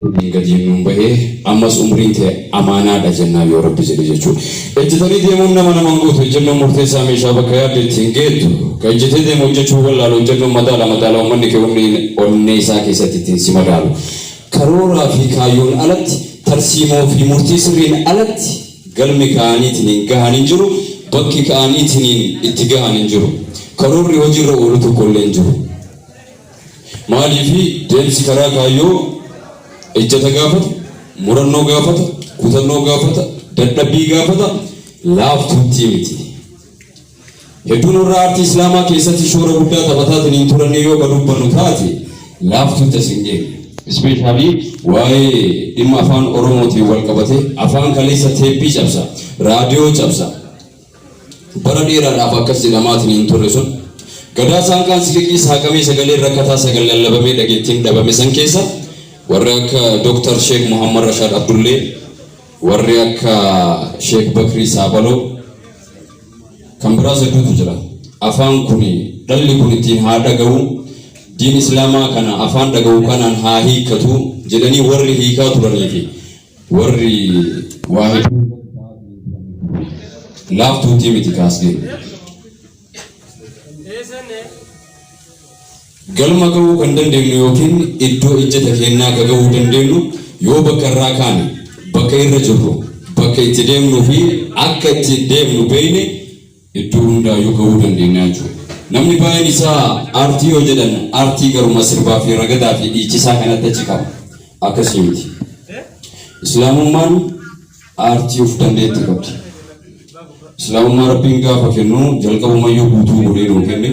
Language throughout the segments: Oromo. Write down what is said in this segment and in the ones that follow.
Ni gadii nuun bahee ammas umriin tee amaanaadha jennaan yoo rabbi jedhe jechuudha. Ejjetanii deemuun nama nama hin gootu ejjennoon murteessaa meeshaa bakka yaadde itti hin geettu. Ka ejjetee deemu hojjachuu wallaalu ejjennoon madaala madaala ummanni kee onneen onnee isaa keessatti ittiin si madaalu. Karooraa fi kaayyoon alatti tarsiimoo fi murtii sirriin alatti galmi ka'aniitiniin gahan hin jiru bakki ka'aniitiniin itti gahan hin jiru. Karoorri hojiirra oolu tokkollee hin jiru. Maaliif deemsi karaa kaayyoo ejjeta gaafata, murannoo gaafata, kutannoo gaafata, dadhabbii gaafata, laaftuuttii miti. Hedduun warra aartii Islaamaa keessatti shoora guddaa taphataatiin hin turannee yoo ka dubbannu taate laaftuutti as hin geenye. Ispeeshaalii waa'ee dhimma afaan Oromootiin wal qabatee afaan kaleessa teeppii cabsa, raadiyoo cabsa, Bara dheeraadhaaf akkas jedhamaatiin hin turre sun Gadaa saanqaan siliqii saaqamee sagaleen rakkataa sagal lallabamee dhageettiin dhabame san keessa warri akka Dr. Sheek Muhammad Rashaad Abdullee, warri akka Sheek Bakrii Saabaloo, kan biraas hedduutu jira. Afaan kuni dhalli kun ittiin haa dhagahu, diin Islaamaa kana afaan dhagahu kanaan haa hiikkatu jedhanii warri hiikaa turanii fi Warri waa hedduu irratti ta'aa turee turan kun laaftuutii miti kaasgeen. Galma ga'uu kan dandeenyu yookiin iddoo ijjata keenyaa ka ga'uu dandeenyu yoo bakka irraa kaane, bakka irra jirru, bakka itti deemnuu fi akka itti deemnu beeyne Iddoo hundaayyuu gahuu dandeenya jechuudha. Namni baay'een isaa aartii yoo jedhan aartii garuma sirbaa fi ragadaa fi dhiichisaa kanatti achi ka'a. Akkasii miti. Islaamummaan aartii of dandeetti qabdi. Islaamummaa Rabbiin gaafa kennu jalqabumayyuu guutuu godhee nuu kenne.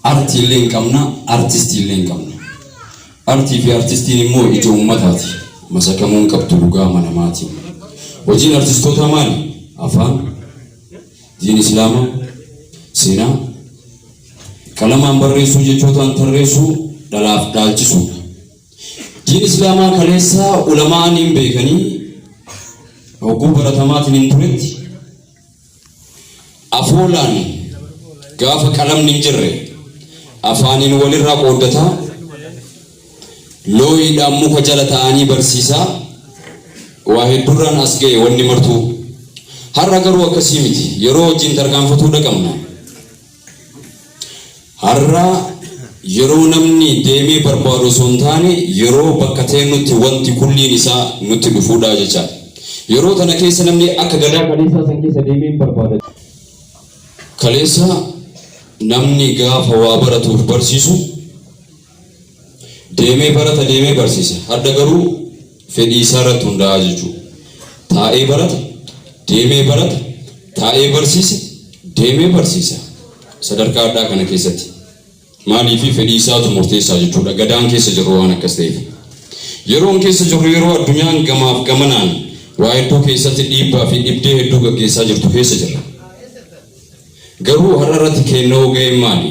Artii illee hin qabna, artistii illee hin qabna. Artii fi artistiin immoo ija uummataati. Masakamuu hin qabdu dhugaa amanamaatiin. Hojiin artistootaa maali? Afaan, diin Islaamaa, seenaa, qalamaan barreessuu, jechootaan tarreessuu, dhalaaf dhaalchisuudha. Diin Islaamaa kaleessaa ulamaa'aniin beekanii hogguu baratamaatiin hin turetti Afoolaan gaafa qalamni hin jirre afaaniin walirraa qooddataa, looyiidhaan muka jala taa'anii barsiisaa waa hedduurraan as ga'e wanni martuu. Har'a garuu akkasii miti. Yeroo wajjin tarkaanfatuu dhaqabna. Har'a yeroo namni deemee barbaadu osoo hin taane yeroo bakka teennutti wanti kulliin isaa nutti dhufuudha jechaan. Yeroo tana keessa namni akka gadaa kaleessaa san keessa deemee hin barbaada. Kaleessa namni gaafa waa baratuuf barsiisu Deemee barata deemee barsiisa. Hadha garuu fedhii isaa irratti hundaa'a jechuu. Taa'ee barata, deemee barata, taa'ee barsiisa, deemee barsiisa. Sadarkaa hadhaa kana keessatti maaliifi fedhii isaatu murteessaa jechuudha. Gadaan keessa jirru waan akkas ta'eef. Yeroon keessa jirru yeroo addunyaan gamaaf gamanaan waa hedduu keessatti dhiibbaa fi dhibdee hedduu gaggeessaa jirtu keessa jirra. Garuu har'a irratti keennoo ga'een maali?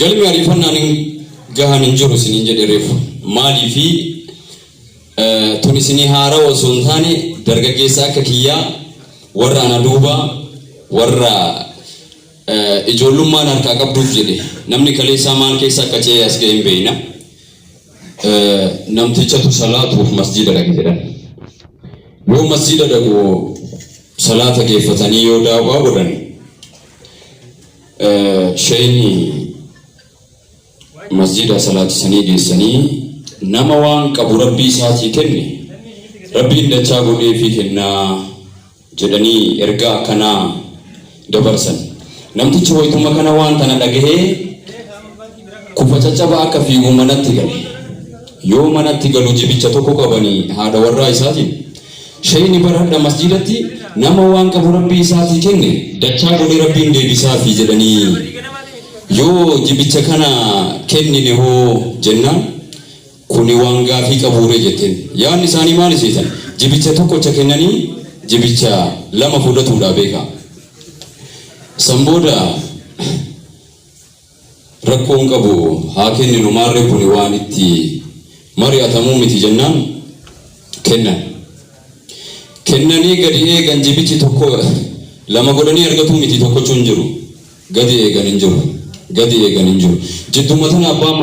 Galmi ariifannaan hin gahan hin jiru isiniin jedhe reefu. Maaliifi tun isinii haarawa osoo hin taane dargaggeessa akka kiyyaa warra ana duuba warra ijoollummaan harkaa qabduuf jedhe namni kaleessaa maal keessa akka ce'ee as ga'e hin beekna. Namtichatu salaatuuf masjiida dhaqe jedhan. Yoo masjiida dhaqu salaata geeffatanii yoo daawwaa godhan Sheyni masjiida salaachisanii geessanii nama waan qabu Rabbii isaatii kenne Rabbiin dachaa godheefii kenna jedhanii ergaa akkanaa dabarsan. Namtichi waytuma kana waan tana dhagahee kufa caccabaa akka fiigu manatti gale. Yoo manatti galu jibicha tokko qabanii haadha warraa isaatiin Sheyni bar hadha masjidati nama waan qabu rabbii isaatii kenne dachaa godhee rabbiin deebisaafi jedhanii yoo jibicha kana kennine hoo jennaan kuni waan gaafii qabuure jetten yaadni isaanii maali seetan jibicha tokkocha kennanii jibicha lama fudhatuudha beeka san booda Rakkoo hin qabu haa kenninu maarree kuni waan itti mari'atamu miti jennaan kennan. Kennanii gadi eegan jibichi tokko lama godhanii argatuu miti tokkochuu hin jiru. Gadi eegan hin jiru. Gadi eegan hin jiru. Jidduma tana abbaan